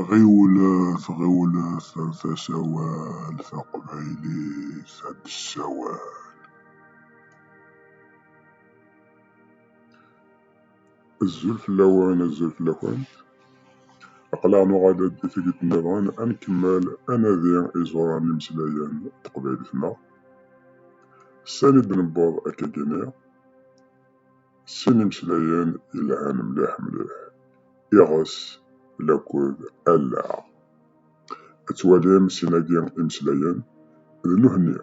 Ɣiwlet ɣiwlet ar tasawalt taqbaylit ad nessawal. Azul fell-awen azul fell-akent aql-aɣ nuɣal-d tikkelt nniḍen ad nkemmel anadi iẓuran n imeslayen n teqbaylit-nneɣ sani d-newweḍ akkagi-nni. Sin imeslayen yelhan mliḥ mliḥ, iɣes, lakud, allaɣ. Ad twalim sin-agi imeslayen d nuhenni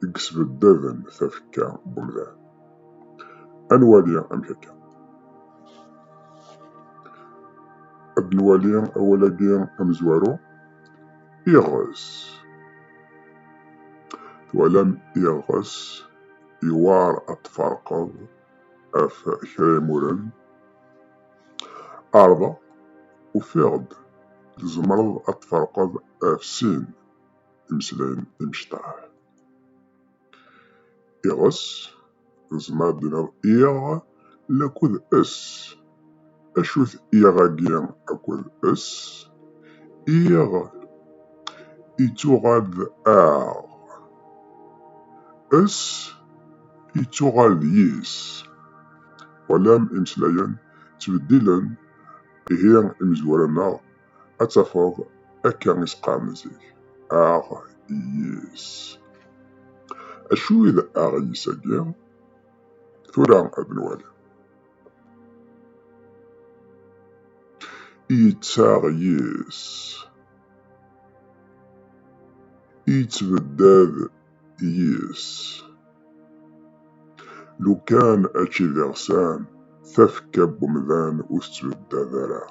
i yesbeddaden tafekka n umdan. Ad nwali amek akka. Ad nwali awal-agi amezwaru, iɣes. Twalam iɣes. yewɛer ad tfarqeḍ af kra imuren ɛerḍeɣ ufiɣ-d tzemreḍ ad tfarqeḍ af sin imeslayen imecṭaḥ iɣes tzemreḍ ad d-tiniḍ iɣ Lakul s, acu-t iɣ-agi akul s? Iɣ ittuɣal d aɣ. S ittuɣal d yis. Walam imeslayen ttbeddilen, ihi imezwura-nneɣ ad tafeḍ akka i s-qqaren zik, aɣ-yis. Acu i d aɣ-yis-agi? tura abnwal yettaɣ yis yettbeddad yis lukan ači d iɣsan tafekka n umdan ur tettbeddad ara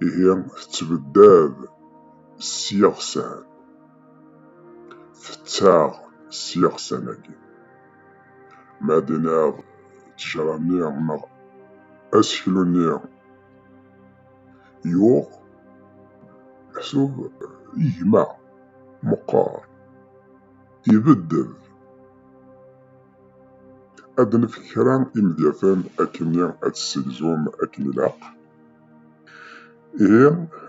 ihi tettbeddad s yiɣsan tettaɣ s yiɣsan-agi ma d-iniɣ ttejra-nni neɣ aseklu-nni yuɣ meḥsub igma meqqar ibeddel ad nefk kra imedyaten akken ad tessegzum akken ilaq Ihi,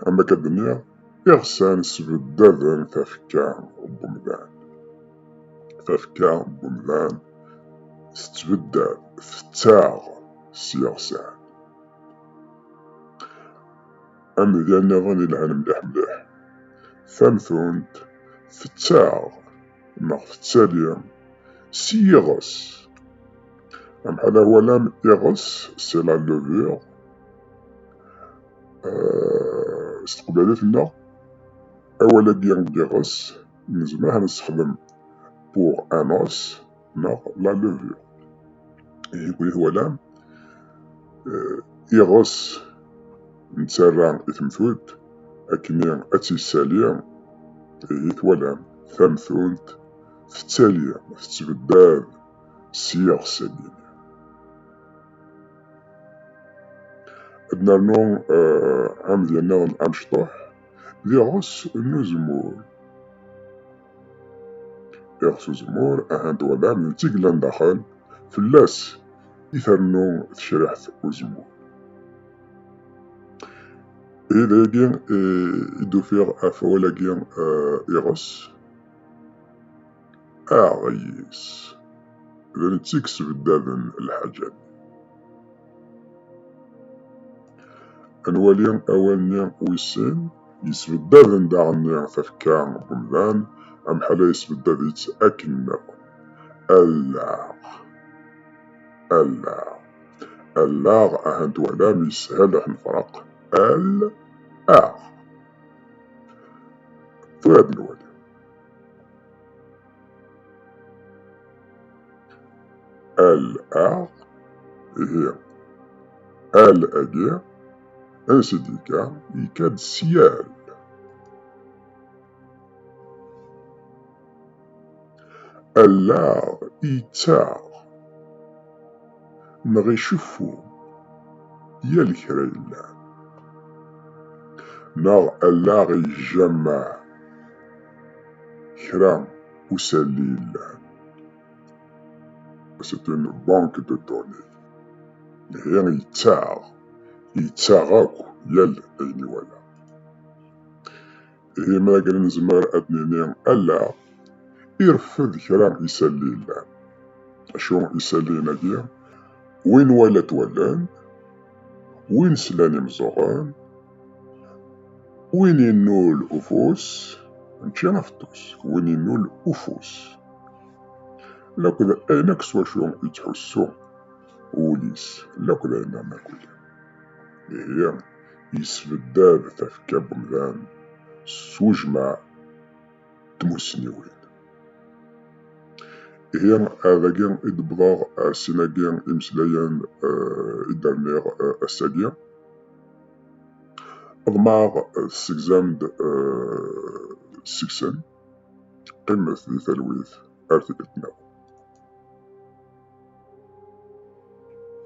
am akka d-nniɣ, iɣsan sbeddaden tafekka n umdan. Tafekka n umdan tettbeddad, tettaɣ s yiɣsan. Amedya nniḍen yelhan mliḥ mliḥ. Tamtunt tettaɣ neɣ tettali s yiɣes. Amḥal awalam iɣes, c'est la levure, s teqbaylit nneɣ awal agi n yiɣes nezmer ad nessexdem pour un os neɣ la levure yegwi twalam iɣes nettarra i temtunt akkenni ad tt-yessali ihi twalam tamtunt tettali tettbeddad s yiɣes-agi Ad nernu eh, amedya-nniḍen amecṭuḥ d iɣes n uzemmur. Iɣes uzemmur, ahat twalam, d tigla n daxel, fell-as i ternu tecriḥt uzemmur. I dagi eh, i d-ufiɣ ɣef wawal-agi eh, iɣes. Aɛeyyis, d netta i yesbeddaden lḥaǧa-nni. Ad nwali awal-nni wis sin. Yesbeddaden daɣen-nni tafekka n umdan, amḥal-a yesbeddad-itt akken nniḍen. Allaɣ, allaɣ, allaɣ, aha n twalam, yeshel ad t-nefreq, al, aɣ. Tura ad nwali. al aɣ ihi al agi ansi d-yekka yekka-d syal allaɣ yettaɣ neɣ iceffu yal kra yellan neɣ allaɣ yejjama kra usalli yellan. C'est une banque de données. Ihi yettaɣ, yettaɣ akk yal ayen iwala. Ihi ma akken nezmer ad nini ala, irfed kra isalli yellan. Acu isalliyen-agi? Win wala twallan, win slan imẓuɣen, Win innul ufus, mačči afeṭṭus, win innul ufus. Laked ayen akk s wacu yettḥussu wul-is, laked ayen am akuli. Ihi, yesbeddad tafekka n umdan s ujmaɛ n tmussniwin. Ihi, dagi i d-wwḍeɣ ar sin-agi imeslayen i d-rniɣ ass-agi. Ḍemɛeɣ tessegzam-d seg-sen. Qqimet di talwit ar tikkelt-nniḍen.